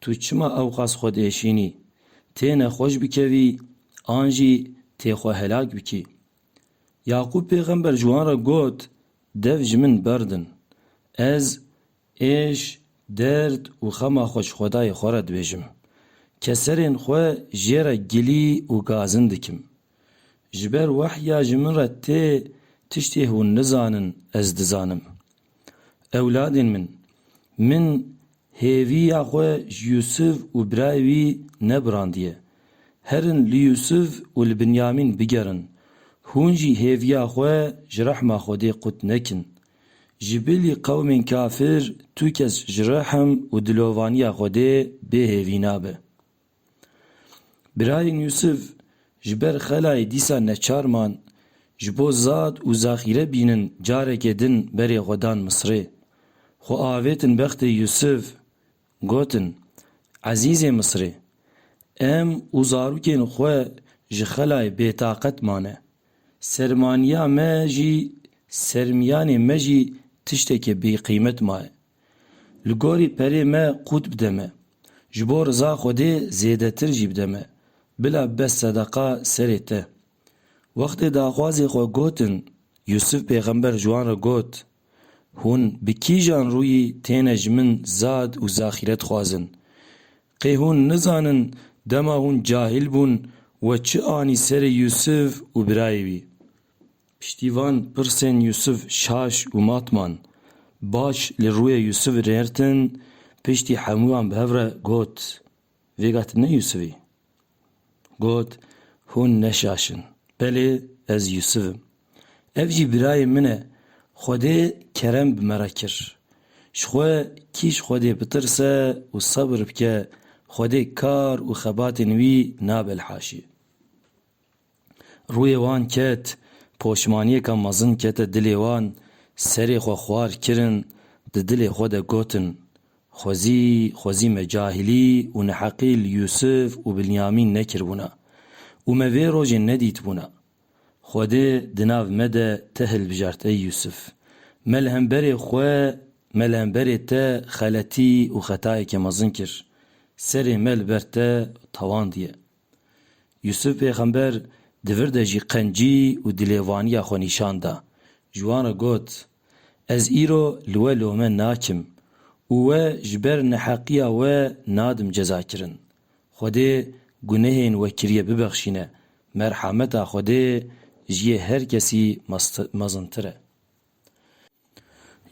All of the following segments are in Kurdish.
Tu çima ewqas xwe diêşînî? Têne xweş bikevî an jî tê xwe helak bikî? Yaqûb pêxember ji wan re got, Dev ji min berdin. Ez êş, derd û xema xwe ji Xwedayê xwe re dibêjim. Keserên xwe jê re gilî û gazin dikim. Ji ber wehya ji min re tê tiştê hûn nizanin ez dizanim. Ewladên min! Min hêviya xwe ji Yûsûf û birayê wî nebirandiye. Herin li Yûsûf û li Binyamîn bigerin. Hûn jî hêviya xwe ji rehma Xwedê qut nekin. Ji bilî qewmên kafir tu kes ji rehm û dilovaniya Xwedê bêhêvî nabe. Birayên Yûsif ji ber xelayê dîsa neçar man, ji bo zad û zaxîre bînin careke din berê xwe dan Misirê. Xwe avêtin bextê Yûsif, gotin, Ezîzê Misirê! Em û zarokên xwe ji xelayê bêtaqet mane. Sermaniya me jî, sermiyanê me jî tişteke bêqîmet maye. Li gorî perê me qût bide me. Ji bo riza Xwedê zêdetir jî bide me. Bila be sedeqa serê te. Wextê daxwazê xwe gotin, Yûsif pêxember ji wan re got, Hûn bi kîjan rûyî têne ji min zad û zaxîret dixwazin? Qê hûn nizanin dema hûn cahîl bûn we çi anî serê Yûsif û birayê wî? Piştî van pirsên Yûsif şaş û mat man. Baş li rûyê Yûsifî rêrtin, piştî hemû wan bi hev re got, Vêga tu ne Yûsif î? Got, Hûn ne şaş in. Belê, ez Yûsif im. Ev jî birayê min e. Xwedê kerem bi me re kir. Ji xwe kî ji Xwedê bitirse û sebir bike, Xwedê kar û xebatên wî nabe li haşiyê. Rûyê wan ket, poşmaniyêka mezin kete dilê wan, serê xwe xwar kirin, di dilê xwe de gotin, Xwezî, xwezî me cahilî û neheqî li Yûsif û Bilyamîn nekiribûna û me vê rojê nedîtibûna. Xwedê di nav me de te hilbijart ey Yûsif. Me li hemberê xwe, me li hemberê te xeletî û xetayeke mezin kir. Serê me li ber te tawandiye. Yûsûf pêxember di vir de jî qencî û dilêvaniya xwe nîşan da. Ji wan re got, Ez îro li we lome nakim û we ji ber neheqiya we nadim cezakirin. Xwedê gunehên we kiriye bibexşîne, merhameta Xwedê ji yê her kesî mezintir e.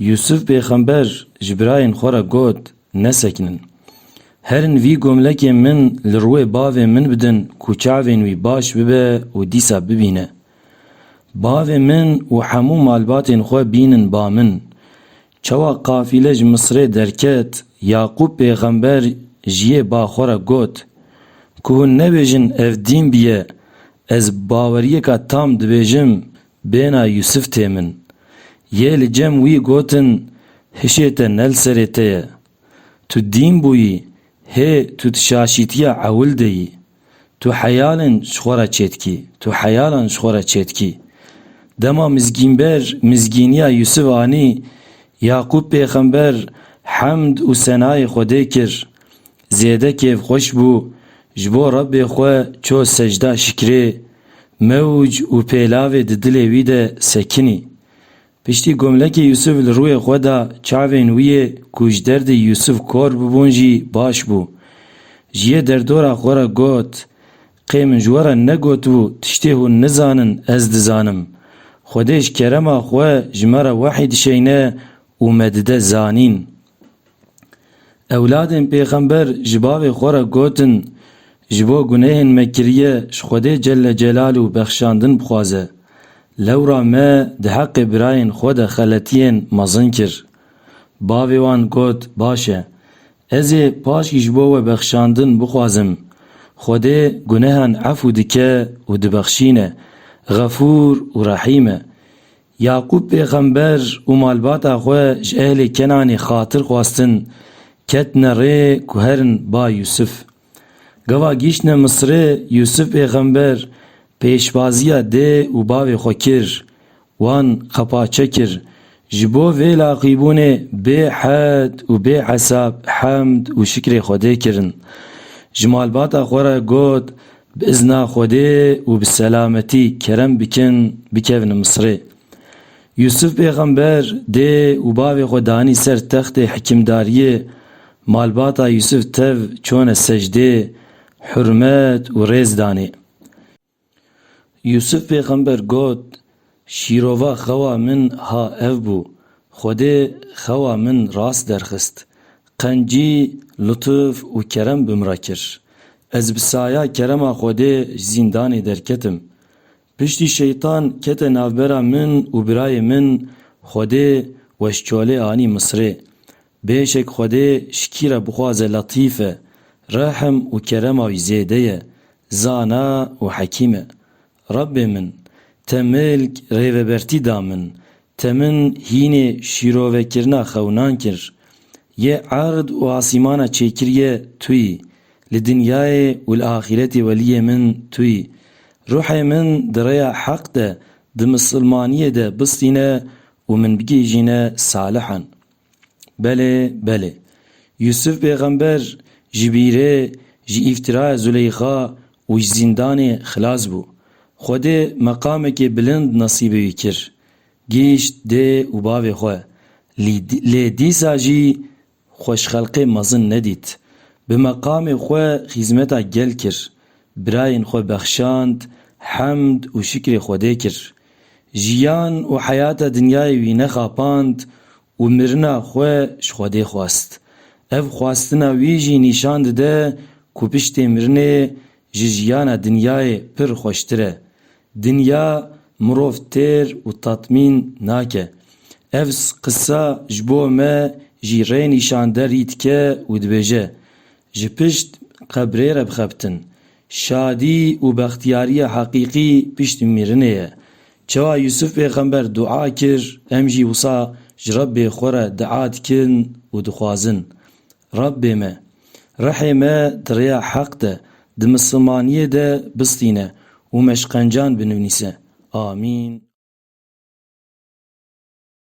Yûsûf pêxember ji birayên xwe re got, Nesekinin. Herin vî gomlekê min li rûê bavê min bidin ku çavên wî baş bibe û dîsa bibîne. Bavê min û hemû malbatên xwe bînin ba min. Çawa qafîle ji Misirê derket, Yaqûb pêxember ji yê ba xwe re got, Ku hûn nebêjin ev dîn bûye, ez bi baweriyeka tam dibêjim Bêhna Yûsif tê min. Yê li cem wî gotin, Hişê te ne li serê te ye. Tu dîn bûyî, hê tu di şaşîtiya ewil de yî. Tu heyalên ji xwe re çêdikî, tu heyalan ji xwe re çêdikî. Dema mizgînber mizgîniya Yûsif anî, Yaqûb pêxember hemd û senayê Xwedê kir. Zêde kêfxweş bû, ji bo Rebbê xwe ço sejda şikrê, mewc û pêlavê di dilê wî de sekinî. Piştî gomlekê Yûsûf li rûyê xwe da, çavên wî yê ku ji derdê Yûsûf kor bûbûn jî baş bû. Ji yê derdora xwe re got, Qê min ji we re negotibû tiştê hûn nizanin ez dizanim. Xwedê ji kerema xwe ji me re wehî dişeyne û me dide zanîn. Ewladên pêxember ji bavê xwe re gotin, Ji bo gunehên me kiriye ji Xwedê Celle Celalu bexşandin bixwaze. Lewra me di heqê birayên xwe de xeletiyên mezin kir. Bavê wan got, Baş e. Ez ê paşkî ji bo we bexşandin bixwazim. Xwedê gunehan efû dike û dibexşîne. Xefûr û Rehîm e. Yaqûb pêxember û malbata xwe ji ehlê Kenanê xatir xwestin, ketine rê ku herin ba Yûsif. Gava gihîştine Misirê, Yûsif pêxember pêşvaziya dê û bavê xwe kir, wan qepaçe kir, ji bo vê laqîbûnê bê hed û bê hesab hemd û şikrê Xwedê kirin. Ji malbata xwe re got, Bi izna Xwedê û bi selametî kerem bikin bikevin Misirê. Yûsif pêxember dê û bavê xwe danî ser textê hikîmdariyê, malbata Yûsif tev çone secdê, hurmet û rêz danê. Yûsif pêxember got, Şîrova xewa min ha ev bû, Xwedê xewa min rast derxist, qencî, lutuf û kerem bi min re kir. Ez bi saya kerema Xwedê ji zîndanê derketim. Piştî Şeytan kete navbera min û birayê min, Xwedê we ji çolê anî Misirê. Bêşek Xwedê ji kî re bixwaze Letîf e, rehm û kerema wî zêde ye, zana û hekîm e. Rabbê min, te milk, rêvebertî da min, te min hînê şîrovekirina xewinan kir. Yê erd û asîmana çêkiriye tu yî, li dinyayê û li axîretê weliyê min tu yî. Ruhê min di rêya heq de, di misilmaniyê de bistîne û min bigihîjîne salihan. Belê, belê. Yûsûf pêxember ji bîrê, ji îftiraya Zuleyxa û ji zîndanê xilas bû. Xwedê meqamekê bilind nesîbê wî kir. Gihîşt dê û bavê xwe. Lî lê dîsa jî xweşxelqê mezin nedît. Bi meqamê xwe xîzmeta gel kir. Birayên xwe bexşand, hemd û şikrê Xwedê kir. Jiyan û heyata dinyayê wî nexapand û mirina xwe ji Xwedê xwest. Ev xwestina wî jî nîşan dide ku piştê mirinê ji jiyana dinyayê pir xweştir e. Dinya mirov têr û tatmîn nake. Ev qisa ji bo me jî rê nîşan de rî dike û dibêje, Ji pişt qebrê re bixebtin. Şadî û bextiyariya heqîqî piştî mirinê ye. Çawa Yûsuf pêxember dua kir, em jî wisa ji Rebbê xwe re dua dikin û dixwazin, Rebbê me! Rihê me di rêya heq de, di misilmaniyê de bistîne û me şkencan binivnîse. Amîn.